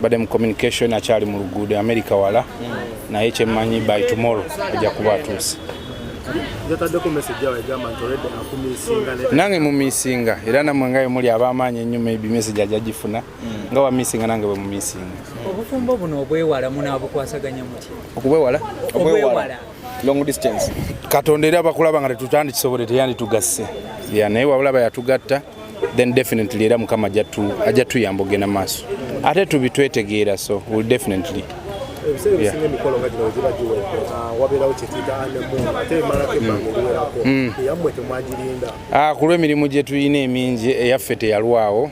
bade mu communication akyali mu luguudo america wala naye kyemmanyi by tomorrow ajja kuba atuuse nange mu misinga era namwe nga yemuli abamaanyi ennyo maybe message ajja gifuna hmm. nga wa misinga nange bwe mu misinga obufumbo buno obwewala munabukwasaganya muti okubwewala obwewala long distance katonda era bakulaba nga tetutandikisobole teyanditugasse ya naye wabulaba yatugatta then definitely era mukama ajja tuyamba ogenda maaso ate tubitwetegeera so will definitely kulwemirimu gyetulina emingi eyaffe teyalwawo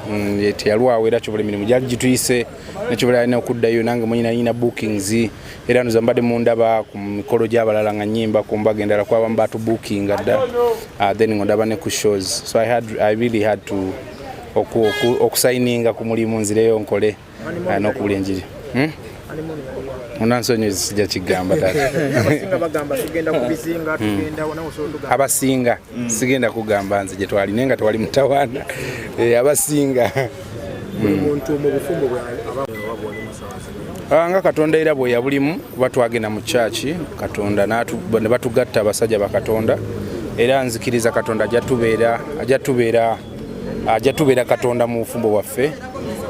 mm, teyalwawo era kyobola emirimu gyali gituyise nekyobola alina okuddayo nange mwenyinalina bookings era nze mbadde mundaba ku mikolo gy'abalala nga nyimba ku mbaga endala ku abamu batubukinga dda uh, then nga ndaba ne ku shows so I, had, I really had to okusayininga ku mulimu nzireyo nkole uh, n'okubula enjiri hmm? onansonyizi sijja kigamba abasinga sigenda kugamba nze gye twali naye nga tewali mutawaana eh, abasinga Ah, nga katonda era bwe yabulimu kuba twagenda mu kyaki katonda ne batugatta abasajja bakatonda era nzikiriza katonda ajatubeera ajatubeera katonda mu bufumbo bwaffe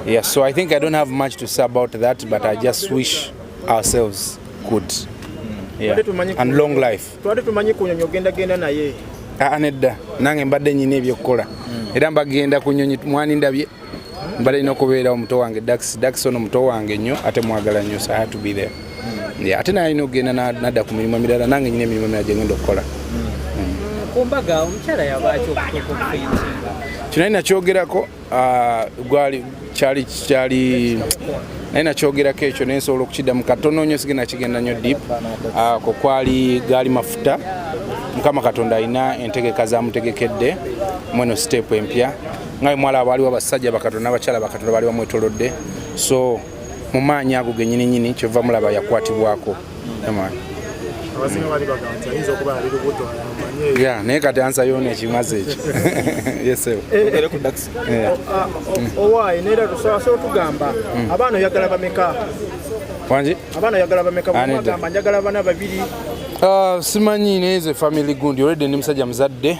yeah, so i think i don't have much to say about that but i just wish ourselves good yeah. and long life twali tumanyi kunyonyi ogenda genda naye aa ah, ah, nedda nange mbadde nyina ebyokukola hmm. era mbagenda ku nyonyi mwani ndabye mbadde nina okubeera omuto wange dax dax ono muto wange nnyo ate mwagala nnyo so had to be there hmm. ate naye alina okugenda nadda ku mirimu emirala nange nyina emirimu emirala gyengenda okukola hmm. kino ali nakyogerako Ah, gwali kyali kyali naye nakyogerako ekyo naye nsobola okukiddamu katono nyo sigenda kigenda nyo dip ah, ko kwali gaali mafuta mukama katonda alina entegeka zamutegekedde mweno sitepu empya ngawe mwala abaaliwo abasajja bakatonda abakyala bakatonda baali bamwetolodde so mu maanyi ago genyininyini kyova mulaba yakwatibwako ya naye kati ansa yona ekimazi ekyo yesewo owaye naye tusobola otugamba mm. abaana oyagala bameka wangi abaana oyagala bameka bamagamba njagala bana babiri ah, simanyi naye ze family gundi olwedde ndi musajja muzadde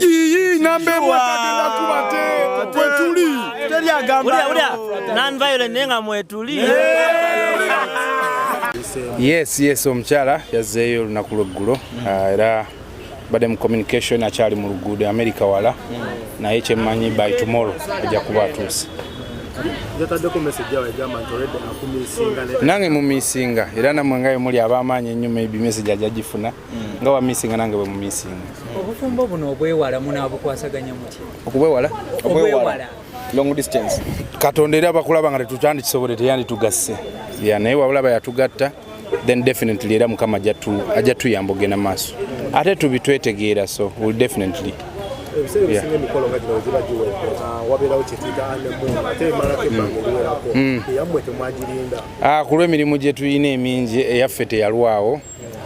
iyi namba emu atagenda kubate kwetuli naye nga mwetuli yes yes omukyala yazzeeyo olunaku lweggulo mm. ah, era badde mu communication akyali mu luguudo america wala mm. naye kyemmanyi by tomorrow ajja kuba atuuse nange mu misinga era namwe ngayo muli abamaanyi ennyo maybe message ajagifuna nga wamisinga nange bwe mumisinga obufumbo buno obwewala munabukwasaganya muti okubwewala obwewala long distance katonda era bakulaba nga tetutyandikisobole teyanditugasse ya naye wabulaba yatugatta then definitely era mukama ajja tuyamba ogenda maaso ate tubitwetegeera so will definitely kulwemirimu gyetulina emingi eyaffe teyalwawo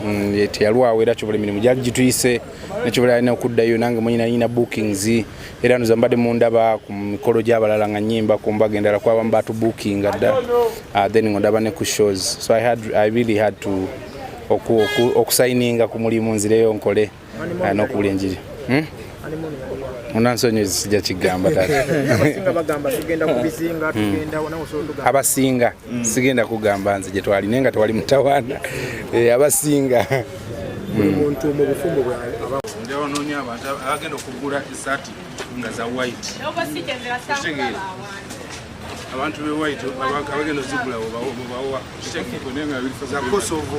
mm, teyalwawo era kyobola emirimu gyali gituyise nekyobola alina okuddayo nange mwenye nalina bookings era noza mbadde mundaba ku mikolo gyabalala nga nyimba ku mbaga endala kwabamu batubukinga dda ah, then nga ndaba ne ku shows so i, had, I really had to okusayininga ku mulimu nzireyo nkole alina okuwula enjiri hmm? munansonyi sijja kigamba abasinga hmm. sigenda kugamba nze gye twali naye nga tewali mutawaana eh, abasinga hmm. agenda okugula esati nga za white abantu be white abagenda ozigulawo bawowa kitegeeko naye nga birifa za kosovo